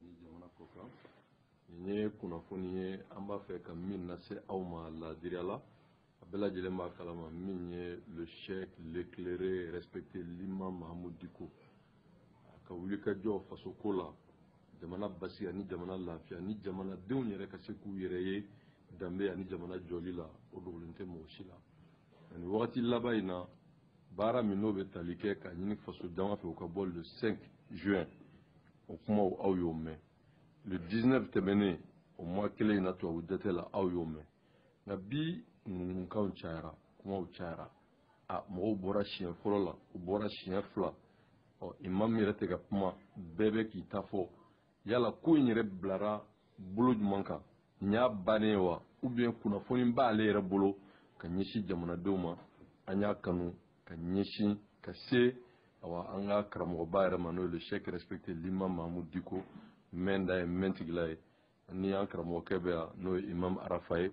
ni jamana ko kan nin ye kunnafoni ye an b'a fɛ ka min lase aw ma laadiriya la a bɛɛ lajɛlen b'a kalama min ye le cheikh l'éclairé respecté l'imam mahamud diko a ka wulikajɔ faso ko la jamana basigi ani jamana lafiya ni jamanadenw yɛrɛ ka se k'u yɛrɛ ye danbe ani jamana jɔli la o dogolen tɛ mɔgɔ si la ani wagati laban in na baara min n'o bɛ tali kɛ ka ɲini faso jama fɛ u ka bɔ le 5 juin o kumaw aw y'o mɛn le 19 tɛmɛnen o mois kelen in na tubabu jate la aw y'o mɛn nka bi ŋunuŋunukanw cayara kumaw cayara a mɔgɔw bɔra siɲɛ fɔlɔ la u bɔra siɲɛ fila ɔ imamu yɛrɛ tɛ ka kuma bɛɛ bɛ k'i ta fɔ yala ko in yɛrɛ bilara bolo jumɛn kan nin y'a bannen ye wa ou bien kunnafoni b'ale yɛrɛ bolo ka ɲɛsin jamanadenw ma an y'a kanu ka ɲɛsin ka se awa an ka karamɔgɔba yɛrɛ ma n'o ye le cheikh respecté l'imam mahamud diko mɛnda ye mɛntigila ye ni an karamɔgɔkɛ bɛ yan n'o ye imam arafa ye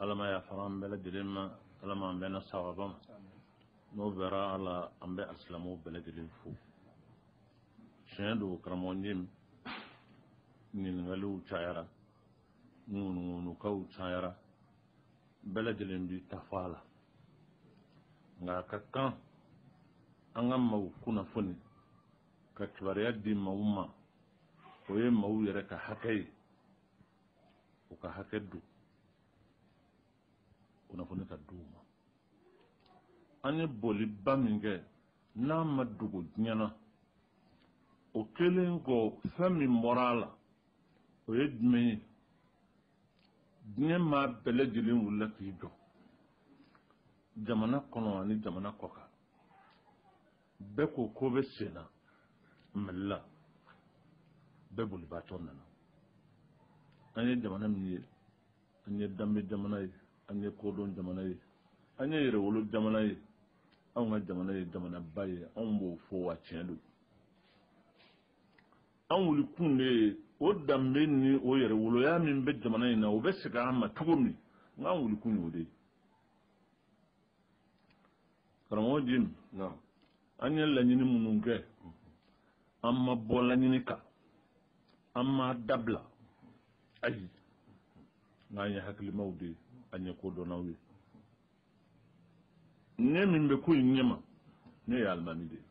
ala ma yafara an bɛɛ lajɛlen ma ala ma an bɛnna sawaba ma n'o bɔra a la an bɛ asilamu bɛɛ lajɛlen fo tiɲɛ don karamɔgɔ jim ɲininkaliw cayara ŋunuŋunukanw cayara bɛɛ lajɛlen b'i ta fɔ a la nka a ka kan an ka maaw kunnafoni ka kibaruya di maaw ma o ye maaw yɛrɛ ka hakɛ ye u ka hakɛ don kunnafoni ka di u ma an ye bɔliba min kɛ n'a ma dogo diɲɛ na o kɛlen kɔ fɛn min bɔra a la o ye jumɛn ye diɲɛ maa bɛɛ lajɛlen wulila k'i jɔ jamana kɔnɔ ani jamana kɔkan bɛɛ ko ko bɛ sen na mali la bɛɛ bolibaatɔ nana an ye jamana min ye an ye danbe jamana ye an ye kodɔn jamana ye an ye yɛrɛwolo jamana ye anw ka jamana ye jamanaba ye anw b'o fɔ wa tiɲɛ don an wuli kun de ye o danbe ni o yɛrɛwoloya min bɛ jamana in na o bɛ segin an ma cogo min na an wuli kun y'o de ye karamɔgɔ jim an ye laɲini minnu kɛ an ma bɔ laɲini kan an m'a dabila ayi nka an ye hakilimaw de ye an ye kodɔnnaw ye ne min bɛ ko in ɲɛma ne ye alimami de ye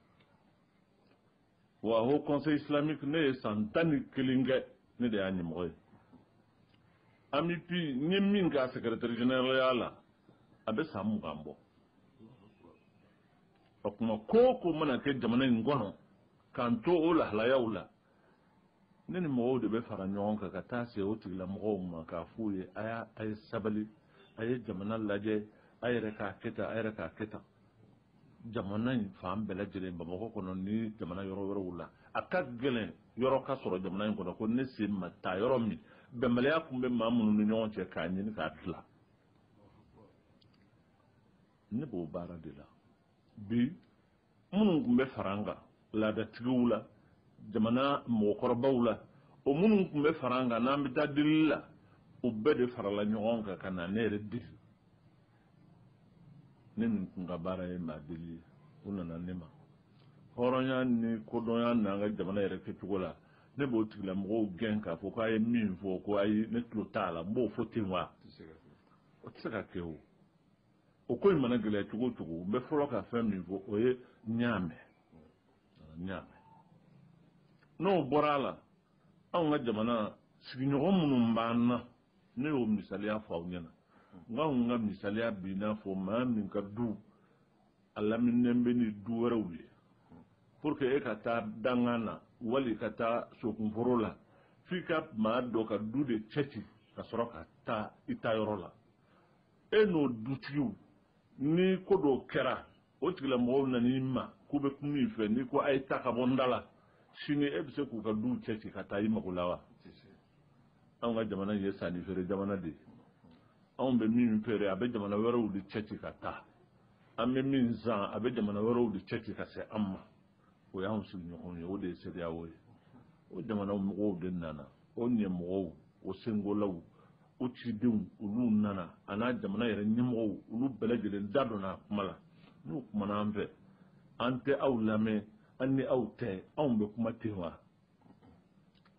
wa haut conseil islamique ne ye san tan ni kelen kɛ ne de y'a ɲɛmɔgɔ ye AMUPI n ye min k'a secrétaire généralya la a bɛ san mugan bɔ o tuma ko o ko mana kɛ jamana in kɔnɔ k'an to o lahalayaw la ne ni mɔgɔw de bɛ fara ɲɔgɔn kan ka taa se o tigilamɔgɔw ma k'a f'u ye a y'a a ye sabali a ye jamana lajɛ a yɛrɛ k'a kɛ tan a yɛrɛ k'a kɛ tan jamana in fan bɛɛ lajɛlen bamakɔ kɔnɔ ni jamana yɔrɔ wɛrɛw la a ka gɛlɛn yɔrɔ ka sɔrɔ jamana in kɔnɔ ko ne sen ma taa yɔrɔ min bɛnbaliya tun bɛ maa minnu ni ɲɔgɔn cɛ k'a ɲini k'a dilan ne b'o baara de la bi minnu tun bɛ fara an kan laadatigiw la jamana mɔgɔkɔrɔbaw la o minnu tun bɛ fara an kan n'an bɛ taa delili la o bɛɛ de farala ɲɔgɔn kan ka na ne yɛrɛ deli ne nin tun ka baara ye maadeli ye u nana ne ma hɔrɔnya ni kodɔnya n'an ka jamana yɛrɛ kɛcogo la ne b'o tigilamɔgɔw gɛn k'a fɔ k'a ye min fɔ ko ayi ne tulo t'a la n b'o fɔ ten wa o tɛ se ka kɛ o o ko in mana gɛlɛya cogo o cogo n bɛ fɔlɔ ka fɛn min fɔ o ye n y'a mɛn n y'a mɛn n'o bɔra a la anw ka jamana sigiɲɔgɔn minnu b'an na ne y'o misaliya fɔ aw ɲɛna n ko anw ka misaliya b'i n'a fɔ maa min ka du a laminilen bɛ ni du wɛrɛw ye pour que e ka taa dangan na wali ka taa sokunforo la f'i ka maa dɔ ka du de cɛci ka sɔrɔ ka taa i taayɔrɔ la e n'o dutigiw ni ko dɔw kɛra o tigilamɔgɔw nan'i ma k'u bɛ kuma i fɛ n'i ko a ye taa ka bɔ n da la sini e bɛ se k'u ka duw cɛci ka taa i mago la wa anw ka jamana ye sanni feere jamana de ye anw bɛ min feere a bɛ jamana wɛrɛw de cɛci ka taa an bɛ min san a bɛ jamana wɛrɛw de cɛci ka se an ma o y'an sigiɲɔgɔnw ye o de ye CEDEAO ye o jamana mɔgɔw de nana o ɲɛmɔgɔw o senkolaw o cidenw olu nana a n'a jamana yɛrɛ ɲɛmɔgɔw olu bɛɛ lajɛlen da donna a kuma la n'u kumana an fɛ an tɛ aw lamɛn an ni aw tɛ anw bɛ kuma ten wa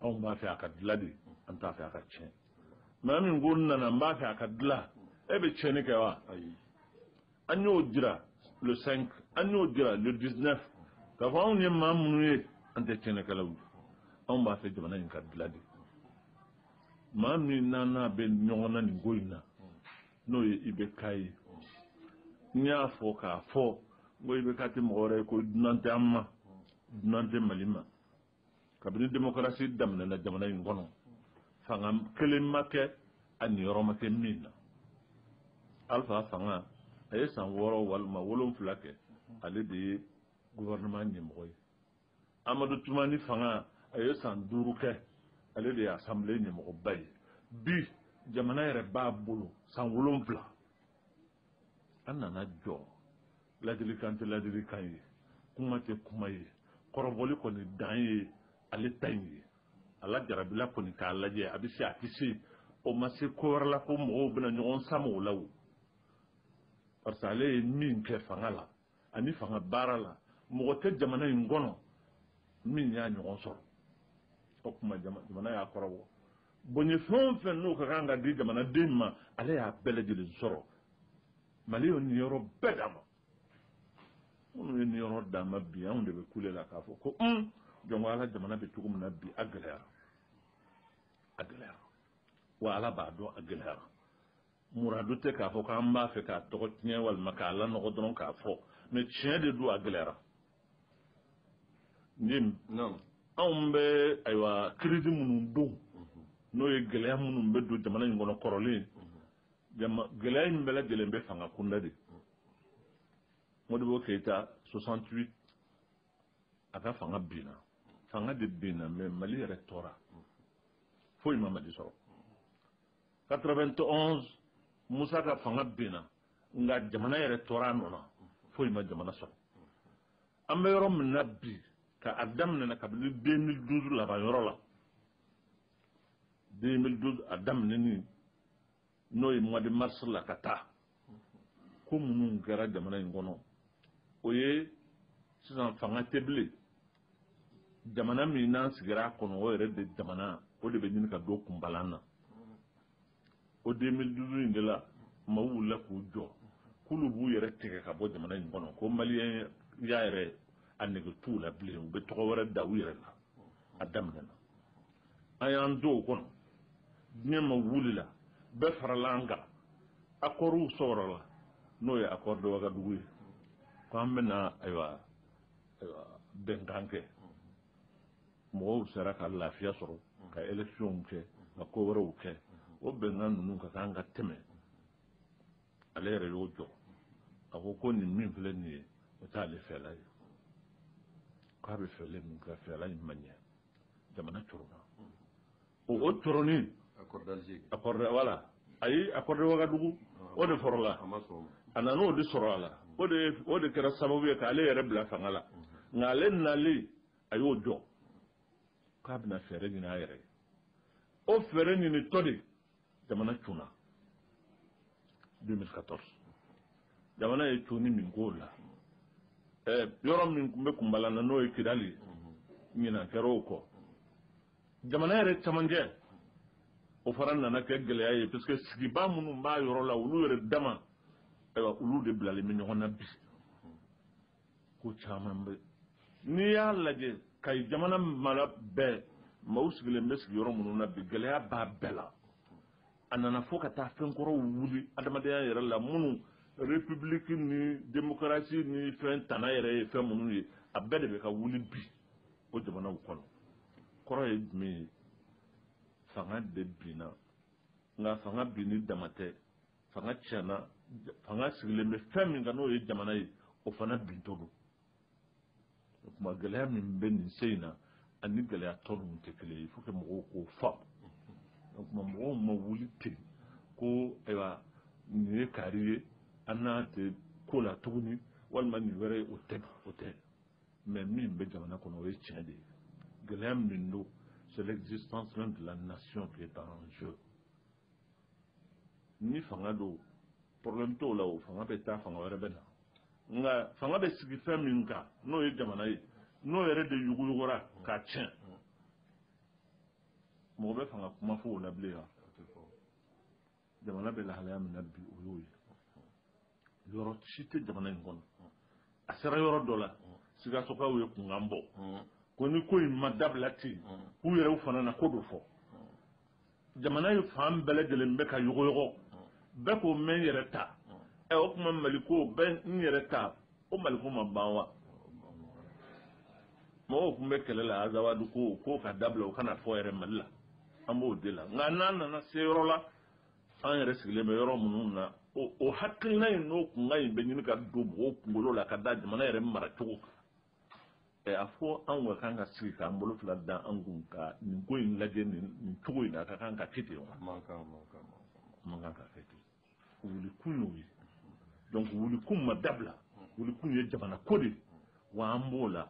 anw b'a fɛ a ka dilan de an t'a fɛ a ka tiɲɛ maa min ko n nana n b'a fɛ a ka dilan e bɛ tiɲɛni kɛ wa ayi an y'o jira le 5 an y'o jira le 19 k'a fɔ anw ye maa minnu ye an tɛ tiɲɛnikɛlaw ye anw b'a fɛ jamana in ka dilan de maa min n'an n'a bɛ ɲɔgɔn na nin ko in na n'o ye IBK ye n y'a fɔ k'a fɔ n ko IBK tɛ mɔgɔ wɛrɛ ye ko dunan tɛ an ma dunan tɛ mali ma kabini demokarasi daminɛna jamana in kɔnɔ fanga kelen ma kɛ a niyɔrɔ ma kɛ min na alfa fanga a ye san wɔɔrɔ walima wolonfila kɛ ale de ye gouvernement ɲɛmɔgɔ ye amadu tumani fanga a ye san duuru kɛ ale de ye assemblée ɲɛmɔgɔba ye bi jamana yɛrɛ b'a bolo san wolonfila an nana jɔ ladilikan tɛ ladilikan ye kuma tɛ kuma ye kɔrɔbɔli kɔni dan ye ale ta in ye ale jarabila kɔni k'a lajɛ a bɛ se a tɛ se o ma se ko wɛrɛ la ko mɔgɔw bɛna ɲɔgɔn sama o la o parce que ale ye min kɛ fanga la ani fanga baara la mɔgɔ tɛ jamana in kɔnɔ min y'a ɲɔgɔn sɔrɔ o tuma jamana y'a kɔrɔbɔ bonya fɛn o fɛn n'o ka kan ka di jamanaden ma ale y'a bɛɛ lajɛlen sɔrɔ mali ye nin yɔrɔ bɛɛ d'a ma minnu ye nin yɔrɔ d'a ma bi anw de bɛ kule la k'a fɔ ko un jɔn ko ala jamana bɛ cogo min na bi a gɛlɛyara a gɛlɛyara wa ala b'a dɔn a gɛlɛyara muradu tɛ k'a fɔ k'an b'a fɛ k'a tɔgɔ tiɲɛ walima k'a lanɔgɔ dɔrɔn k'a fɔ mais tiɲɛ de don a gɛlɛyara jim anw bɛ ayiwa crise minnu don n'o ye gɛlɛya minnu bɛ don jamana in kɔnɔ kɔrɔlen gɛlɛya in bɛɛ lajɛlen bɛ fanga kunda de modibo keyita 68 a ka fanga binna fanga de binna mais mali yɛrɛ tora foyi ma mali sɔrɔ 91 musa ka fanga binna nka jamana yɛrɛ tora a nɔ na foyi ma jamana sɔrɔ an bɛ yɔrɔ min na bi ka a daminɛna kabini 2012 laban yɔrɔ la 2012 a daminɛni n'o ye mois de mars la ka taa ko minnu kɛra jamana in kɔnɔ o ye sisan fanga tɛ bilen jamana min n'an sigira a kɔnɔ o yɛrɛ de jamana o de bɛ ɲini ka don kunbalan na o 2012 in de la maaw wulila k'u jɔ k'olu b'u yɛrɛ tigɛ ka bɔ jamana in kɔnɔ ko maliyɛnya yɛrɛ a nege t'u la bilen u bɛ tɔgɔ wɛrɛ da u yɛrɛ la a daminɛna an y'an to o kɔnɔ diɲɛ maa wulila bɛɛ farala an kan accordw sɔrɔla n'o ye accord de wagadugu ye ko an bɛna ayiwa bɛnkan kɛ mɔgɔw sera ka lafiya sɔrɔ ka electionw kɛ ka ko wɛrɛw kɛ o bɛnkan ninnu ka kan ka tɛmɛ ale yɛrɛ y'o jɔ a ko ko nin min filɛ nin ye o t'ale fɛla ye k'a bɛ fɛla min kɛ fɛla in ma ɲɛ jamana koronna o o koronni voilà ayi accord de wagadugu o de fɔlɔla a nana o de sɔrɔ a la o de kɛra sababu ye k'ale yɛrɛ bila fanga la nka ale nali a y'o jɔ k'a bɛna fɛɛrɛ ɲini a yɛrɛ ye o fɛɛrɛ ɲinitɔ de jamana cunna 2014 jamana ye cunni min k'o la yɔrɔ min tun bɛ kunbala na n'o ye kidali ye ɲinan kɛra o kɔ jamana yɛrɛ camancɛ o fana nana kɛ gɛlɛya ye parce que sigibaa minnu b'a yɔrɔ la olu yɛrɛ dama ayiwa olu de bilalen bɛ ɲɔgɔn na bi ko caman bɛ n'i y'a lajɛ kayi jamana mara bɛɛ maaw sigilen bɛ sigiyɔrɔ minnu na bi gɛlɛya b'a bɛɛ la a nana fo ka taa fɛn kɔrɔw wuli adamadenya yɛrɛ la minnu république ni démocratie ni fɛn tana yɛrɛ ye fɛn minnu ye a bɛɛ de bɛ ka wuli bi o jamanaw kɔnɔ kɔrɔ ye jumɛn ye fanga de binna nka fanga binni dama tɛ fanga tiɲɛna fanga sigilen bɛ fɛn min kan n'o ye jamana ye o fana bintɔ don o tuma gɛlɛya min bɛ nin sen in na ani gɛlɛya tɔ ninnu tɛ kelen ye faut que mɔgɔw k'o faamu o tuma mɔgɔw ma wuli ten ko ayiwa nin ye kaari ye an n'a tɛ ko la tuguni walima nin wɛrɛ ye o tɛ o tɛ mais min bɛ jamana kɔnɔ o ye tiɲɛ de ye gɛlɛya min don c'est l'existence même de la nation qui est en jeu ni fanga don problème t'o la o fanga bɛ taa fanga wɛrɛ bɛ na nka fanga bɛ sigi fɛn min kan n'o ye jamana ye n'o yɛrɛ de yuguyugura k'a tiɲɛ mɔgɔ bɛ fanga kuma fɔ o la bilen wa jamana bɛ lahalaya min na bi o y'o ye yɔrɔ si tɛ jamana in kɔnɔ a sera yɔrɔ dɔ la sikasokaw ye kunkan bɔ ko ni ko in ma dabila ten k'u yɛrɛw fana na ko dɔ fɔ jamana ye fan bɛɛ lajɛlen bɛ ka yɔgɔyɔgɔ bɛɛ ko ne yɛrɛ ta ɛ o tuma mali ko bɛɛ n yɛrɛ ta o mali ko ma ban wa mɔgɔw tun bɛ kɛlɛ la azawadu ko k'o ka dabila o kana fɔ yɛrɛ mali la an b'o de la nka n'an nana se yɔrɔ la an yɛrɛ sigilen bɛ yɔrɔ minnu na o hakilina in n'o kunkan in bɛ ɲini ka don mɔgɔw kunkolo la ka da jamana yɛrɛ maracogo kan ɛ a fɔ an ka kan ka sigi k'an bolo fila da an kun ka nin ko in lajɛ nin cogo in na a ka kan ka kɛ ten wa man kan ka kɛ ten wulikun y'o ye donc wulikun ma dabila wulikun ye jamana ko de ye wa an b'o la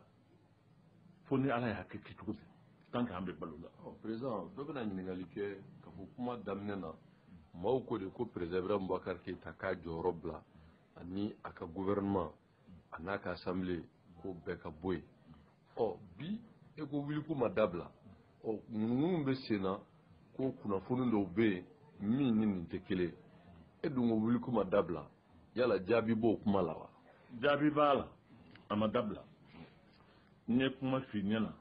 fo ni ala y'a kɛ kɛcogo di tant que an bɛ balo la président dɔ bɛna ɲininkali kɛ k'a fɔ kuma daminɛ na maaw ko de ko président ibrahim boubacar keïta k'a jɔyɔrɔ bila ani a ka gouvernement an'a ka assemblée ko bɛɛ ka bɔ yen ɔ bi e ko wulikun ma dabila ɔ ŋunuŋunu bɛ sen na ko kunnafoni dɔw bɛ yen min ni nin tɛ kelen e dun ko wulikun ma dabila yala jaabi b'o kuma la wa jaabi b'a la a ma dabila n ye kuma f'i ɲɛna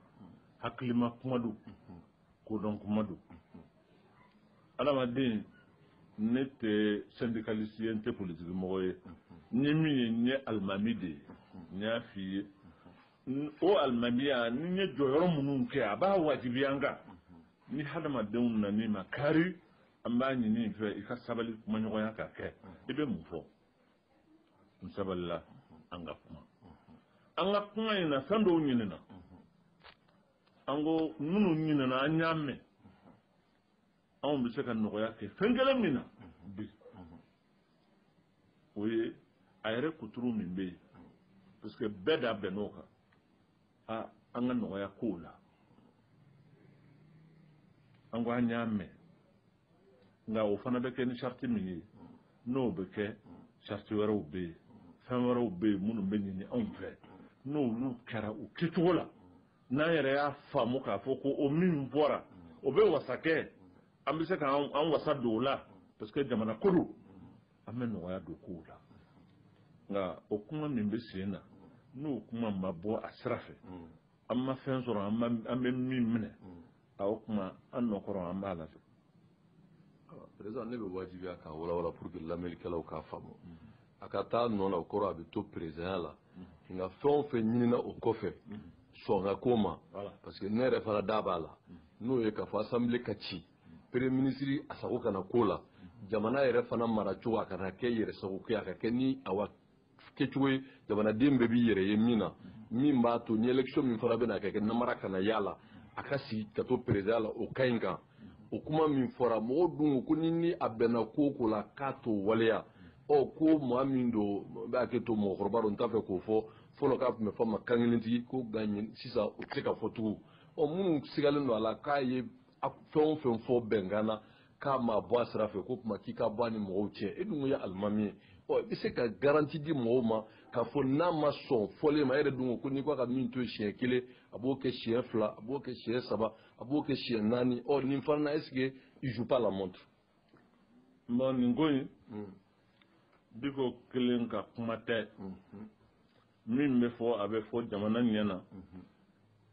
hakilima kuma don kodɔn kuma don adamaden ne tɛ sɛndikalisi ye n tɛ politiki mɔgɔ ye n ye min ye n ye alimami de ye n y'a f'i ye o alimamiya ni n ye jɔyɔrɔ minnu kɛ a b'a wajibiya n kan ni hadamadenw nan'i ma kari an b'a ɲini i fɛ i ka sabali kumaɲɔgɔnya ka kɛ i bɛ mun fɔ n sabalila an ka kuma an ka kuma in na fɛn dɔw ɲinina an ko minnu ɲinina an y'a mɛn anw bɛ se ka nɔgɔya kɛ fɛn kelen min na bi o ye a yɛrɛ kuturu min bɛ yen parce que bɛɛ da bɛnn'o kan aa an ka nɔgɔya kow la an ko an y'a mɛn nka o fana bɛ kɛ ni sariti min ye n'o bɛ kɛ sariti wɛrɛw bɛ yen fɛn wɛrɛw bɛ yen minnu bɛ ɲini anw fɛ n'olu kɛra u kɛcogo la n'an yɛrɛ y'a faamu k'a fɔ ko o min bɔra o bɛ wasa kɛ an bɛ se k'an wasa don o la parce que jamana ko don an bɛ nɔgɔya don kow la nka o kuma min bɛ sen na n'o kuma ma bɔ a sira fɛ mm. an ma fɛn sɔrɔ an bɛ min minɛ mm. a o kuma an nɔkɔrɔ an b'a la fo présent ne bɛ wajibiya k'a walawala pour que lamɛnnikɛlaw k'a faamu mm. a ka taa nɔ la o kɔrɔ a bɛ to perezidanya la nka fɛn o fɛn ɲinina o kɔfɛ sɔngako ma parce que ne yɛrɛ fana da b'a la n'o ye k'a fɔ asanbile ka ci premier ministre a sago kana k'o la jamana yɛrɛ fana maracogo a kana kɛ yɛrɛ sago kɛ a ka kɛ ni awa kɛcogo ye jamanaden bɛɛ b'i yɛrɛ ye min na min b'a to ni election min fana bɛna kɛ namara kana y'a la a ka sigi ka to perezidan la o ka ɲi kan o kuma min fɔra mɔgɔw dun ko ni ni a bɛnna ko o ko la k'a t'o waleya ɔ ko maa min don n b'a kɛ to mɔgɔkɔrɔba don n t'a fɛ k'o fɔ fɔlɔ k'a tun bɛ fɔ a ma kankelentigi ko nka sisan o tɛ se ka fɔ tugun ɔ minnu sigalen don a la k'a ye a fɛn o fɛn fɔ bɛnkan na k'a ma bɔ a sira fɛ k'o tuma k'i ka bɔ a ni mɔgɔw cɛ e dun ye alimami ye ɔ i bɛ se ka garanti di mɔgɔw ma k'a fɔ n'a ma sɔn fɔlen ma e yɛrɛ dun ko ko n'i k'a ka min to siɲɛ kelen a b'o kɛ siɲɛ fila a b'o kɛ siɲɛ saba a b'o kɛ siɲɛ naani ɔ nin fana na est-ce que il joue pas la montre. non nin ko in hmm. Diko kelen ka kuma tɛ. Hmm. min bɛ fɔ a bɛ fɔ jamana ɲɛ na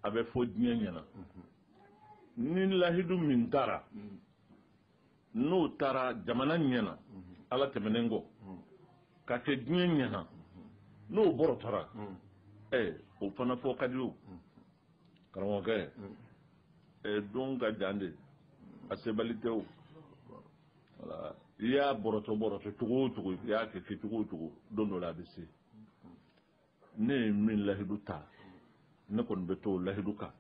a bɛ fɔ diɲɛ ɲɛ na ni lahidu min tara n'o tara jamana ɲɛ na ala tɛmɛnen kɔ ka kɛ diɲɛ ɲɛ na n'o bɔrɔtɔra ɛ o fana fɔ ka di o karamɔgɔkɛ ɛ don ka jan de a sebali tɛ o i y'a bɔrɔtɔ bɔrɔtɔ cogo o cogo i y'a kɛ kɛ cogo o cogo don dɔ la a bɛ se ne ye min lahidu ta ne kɔni bɛ to o lahidu kan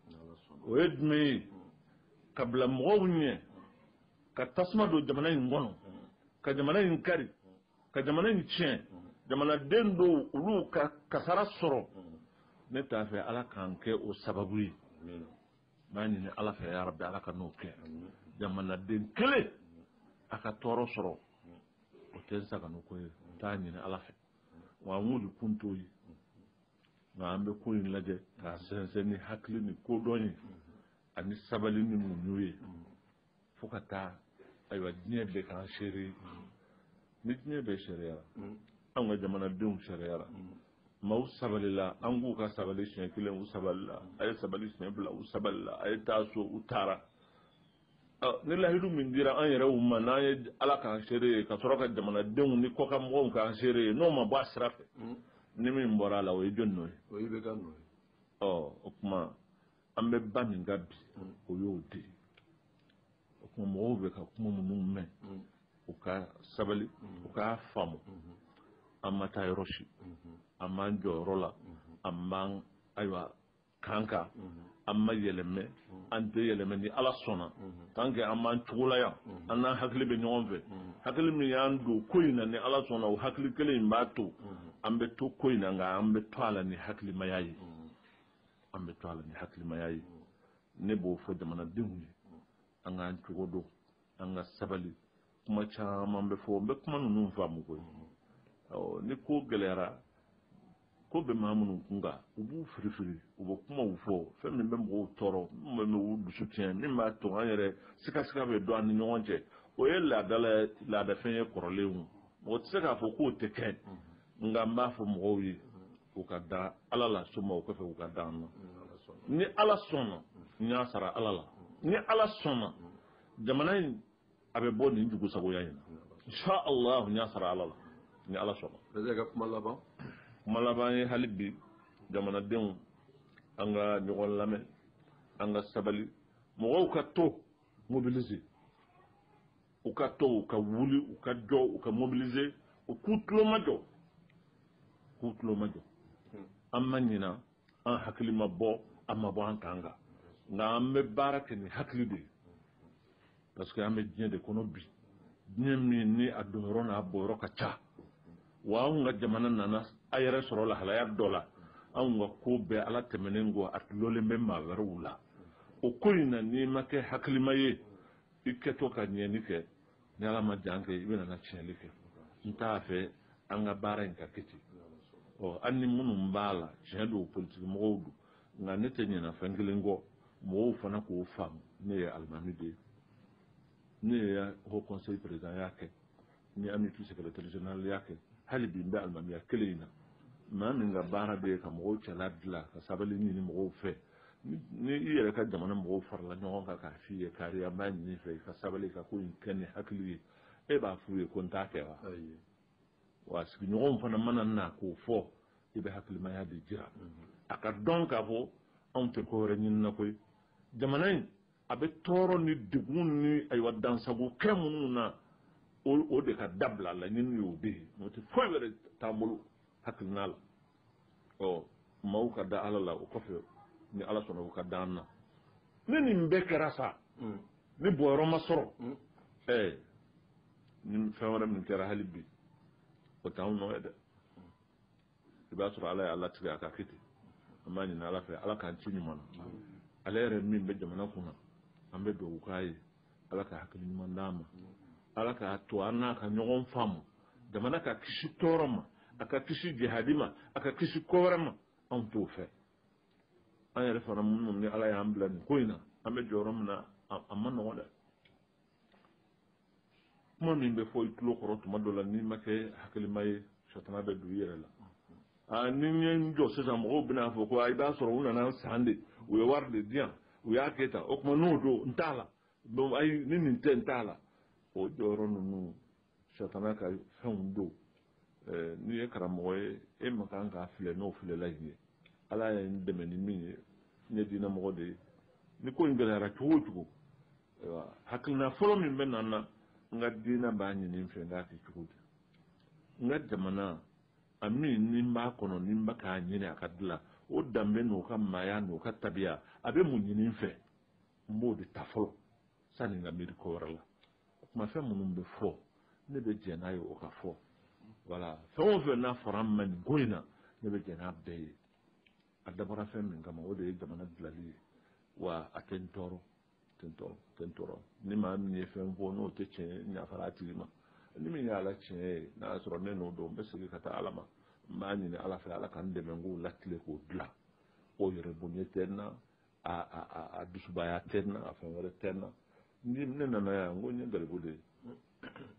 o ye jumɛn ye ka bila mɔgɔw ɲɛ ka tasuma don jamana in kɔnɔ ka jamana in kari ka jamana in tiɲɛ jamanaden dɔw olu ka kasara sɔrɔ ne t'a fɛ ala ka n kɛ o sababu ye n b'a ɲini ala fɛ yarabi ala kan'o kɛ jamanaden kelen a ka tɔɔrɔ sɔrɔ o tɛ n sagonako ye n t'a ɲini ala fɛ wa an wulikun t'o ye nka an bɛ ko in lajɛ k'a sɛnsɛn ni hakili ni kodɔn ye ani sabali ni muɲu ye fo ka taa ayiwa diɲɛ bɛɛ k'an seere ye ni diɲɛ bɛɛ seereyara an ka jamanadenw seereyara maaw sabalila an k'u ka sabali siɲɛ kelen u sabalila a ye sabali siɲɛ fila u sabalila a ye taa so u taara ni lahidu min dira an yɛrɛw ma n'an ye ala k'an seere ye ka sɔrɔ ka jamanadenw ni kɔkanmɔgɔw k'an seere ye n'o ma bɔ a sira fɛ hmm. ni min bɔra a la o ye jɔn nɔ ye ɔ o tuma an bɛ ba min kan bi hmm. o y'o de ye o tuma mɔgɔw bɛ ka kuma minnu mɛn hmm. u ka sabali u k'a faamu an ma taa yɔrɔ si an b'an jɔyɔrɔ la an b'an ayiwa kan kan an ma yɛlɛmɛ an tɛ yɛlɛmɛ ni ala sɔnna tant que an b'an cogo la yan an n'an hakili bɛ ɲɔgɔn fɛ hakili min y'an don ko in na ni ala sɔnna o hakili kelen in b'a to an bɛ to ko in na nka an bɛ to a la ni hakilimaya ye an bɛ to a la ni hakilimaya ye ne b'o fɔ jamanadenw ye an k'an cogo dɔn an ka sabali kuma caman bɛ fɔ n bɛ kuma ninnu faamu koyi ni ko gɛlɛyara ko bɛ maa minnu kun kan u b'u firifiri u bɛ kumaw fɔ fɛn min bɛ mɔgɔw tɔɔrɔ min bɛ u dusu tiɲɛ min b'a to an yɛrɛ sikasika bɛ don an ni ɲɔgɔn cɛ o ye laadala laadafɛn ye kɔrɔlen o mɔgɔ tɛ se k'a fɔ k'o tɛ kɛ nka n b'a fɔ mɔgɔw ye u ka da ala la soma o kɔfɛ u ka da an na ni ala sɔnna n y'a sara ala la ni ala sɔnna jamana in a bɛ bɔ nin jugusagoya in na insha allah n y'a sara ala la ni ala sɔnna bɛɛ ka kuma laban kuma laban ye hali bi jamanadenw an ka ɲɔgɔn lamɛn an ka sabali mɔgɔw ka to mobiliser u ka to u ka wuli u ka jɔ u ka mobiliser u k'u tulomajɔ k'u tulomajɔ an ma ɲina an hakili ma bɔ an ma bɔ an kan kan nka an bɛ baara kɛ ni hakili de ye parce que an bɛ diɲɛ de kɔnɔ bi diɲɛ min ni a donyɔrɔ n'a bɔyɔrɔ ka ca wa anw ka jamana nana a yɛrɛ sɔrɔ lahalaya dɔ la anw ka ko bɛɛ ala tɛmɛnen kɔ a dulonnen bɛ maa wɛrɛw la o ko in na n'i ma kɛ hakilima ye i kɛtɔ ka ɲɛni kɛ ni ala ma jan kɛ i bɛna na tiɲɛli kɛ n t'a fɛ an ka baara in ka kɛ ten ɔ an ni minnu b'a la tiɲɛ don politiki mɔgɔw don nka ne tɛ ɲinɛ fɛn kelen kɔ mɔgɔw fana k'o faamu ne ye alimami de ye ne ye haut conseil présidentya kɛ n ye amupi secrétaire généralya kɛ hali bi n bɛ alimamiya kelen in na maa min ka baara de ye ka mɔgɔw cɛla dilan ka sabali ɲini mɔgɔw fɛ ni i yɛrɛ ka jamana mɔgɔw farala ɲɔgɔn kan k'a f'i ye kari an b'a ɲini i fɛ i ka sabali ka ko in kɛ ni hakili ye e b'a f'u ye ko n t'a kɛ wa wa sigiɲɔgɔnw fana mana na k'o fɔ i bɛ hakilimaya de jira mhm. a ka dɔn k'a fɔ anw tɛ ko wɛrɛ ɲini na koyi jamana in a bɛ tɔɔrɔ ni degun ni ayiwa dansago kɛ minnu na o de ka dabila laɲini y'o de ye n'o tɛ foyi wɛrɛ t'an bolo hakilina la ɔ maaw ka da ala la o kɔfɛ ni ala sɔnna u ka da an na ni nin bɛɛ kɛra sa mm. ni bɔyɔrɔ ma sɔrɔ mm. ɛɛ ni fɛn wɛrɛ min kɛra hali bi o t'anw nɔ ye dɛ i b'a sɔrɔ ala y'a latigɛ a ka kɛ ten an b'a ɲini ala fɛ ala k'an ci ɲuman na mm. ale yɛrɛ min bɛ jamana kunna an bɛ dugawu k'a ye ala ka hakili ɲuman d'a ma ala k'a to an n'a ka ɲɔgɔn faamu jamana ka kisi tɔɔrɔ ma a ka kisi jahadi ma a ka kisi ko wɛrɛ ma anw t'o fɛ an yɛrɛ fana minnu ni ala y'an bila nin ko in na an bɛ jɔyɔrɔ min na a man nɔgɔn dɛ kuma min bɛ fɔ i tulo kɔrɔ tuma dɔ la n'i ma kɛ hakilima ye satana bɛ don i yɛrɛ la Aa ni n ye n jɔ sisan mɔgɔw bɛn'a fɔ ko i b'a sɔrɔ u nan'a san de u ye wari de di yan u y'a kɛ tan o tuma n'o don n t'a la ayi ni nin tɛ n t'a la o jɔyɔrɔ ninnu satana ka fɛnw don n'i ye karamɔgɔ ye e man kan k'a filɛ n'o filɛlan in ye ala ye n dɛmɛ ni min ye ne ye diinamɔgɔ de ye ni ko in gɛlɛyara cogo o cogo hakilina fɔlɔ min bɛ na n na n ka diinɛ b'a ɲini n fɛ n k'a kɛ cogo di n ka jamana A min ni n b'a kɔnɔ ni n bɛ k'a ɲini a ka dilan o danbe n' ka maaya n' ka tabiya a bɛ mun ɲini n fɛ n b'o de ta fɔlɔ sani n ka miiri ko wɛrɛ la kuma fɛn minnu bɛ fɔ ne bɛ jɛn n'a ye o ka fɔ wala fɛn o fɛn n'a fɔra n ma nin ko in na ne bɛ jɛn n'a bɛɛ ye a dabɔra fɛn min kama o de ye jamana dilali ye wa a tɛ n tɔɔrɔ tɔɔrɔ ni maa min ye fɛn fɔ n'o tɛ tiɲɛ ye n yafara a tigi ma ni min y'a la tiɲɛ ye n'a y'a sɔrɔ ne nɔ don n bɛ segin ka taa ala ma n b'a ɲini ala fɛ ala ka n dɛmɛ n k'o latilen k'o dilan o yɛrɛbonya tɛ n na a dusubaya tɛ n na a fɛn wɛrɛ tɛ n na ni ne nana yan n ko n ye garibu de ye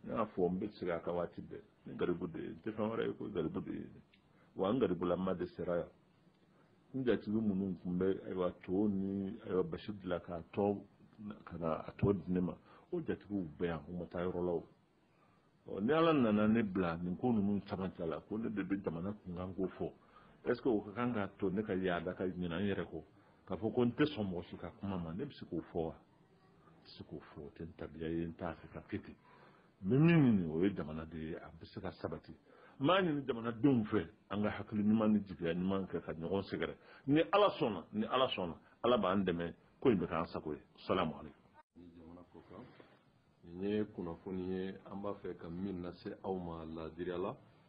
n y'a fɔ n bɛ segin a kan waati bɛɛ n ye garibu de ye n tɛ fɛn wɛrɛ ye ko garibu de ye wa n garibulama de sera yan n jatigi minnu tun bɛ ayiwa to ni ayiwa basi dilan k'a tɔ ka na a tɔ di ne ma o jatigiw bɛ yan u ma taa yɔrɔ la o ɔ ni ala nana ne bila nin ko ninnu camancɛ la ko ne de bɛ jamana kunkan ko fɔ est ce que o ka kan k'a to ne ka yaada ka ɲinan n yɛrɛ kɔ k'a fɔ ko n tɛ sɔn mɔgɔ si ka kuma ma ne bɛ se k'o fɔ wa n tɛ se k'o fɔ o tɛ n tabiya ye n t'a fɛ ka kɛ ten n bɛ min ɲini o ye jamana de ye a bɛ se ka sabati n b'a ɲini jamanadenw fɛ an ka hakili ɲuman ni jigiya ɲuman kɛ ka ɲɔgɔn sɛgɛrɛ ni ala sɔnna ni ala sɔnna ala b'an dɛmɛ ko in bɛ k'an sago ye salamu aleykum jamana kɔkan nin ye kunnafoni ye an b'a fɛ ka min lase aw ma laadiriya la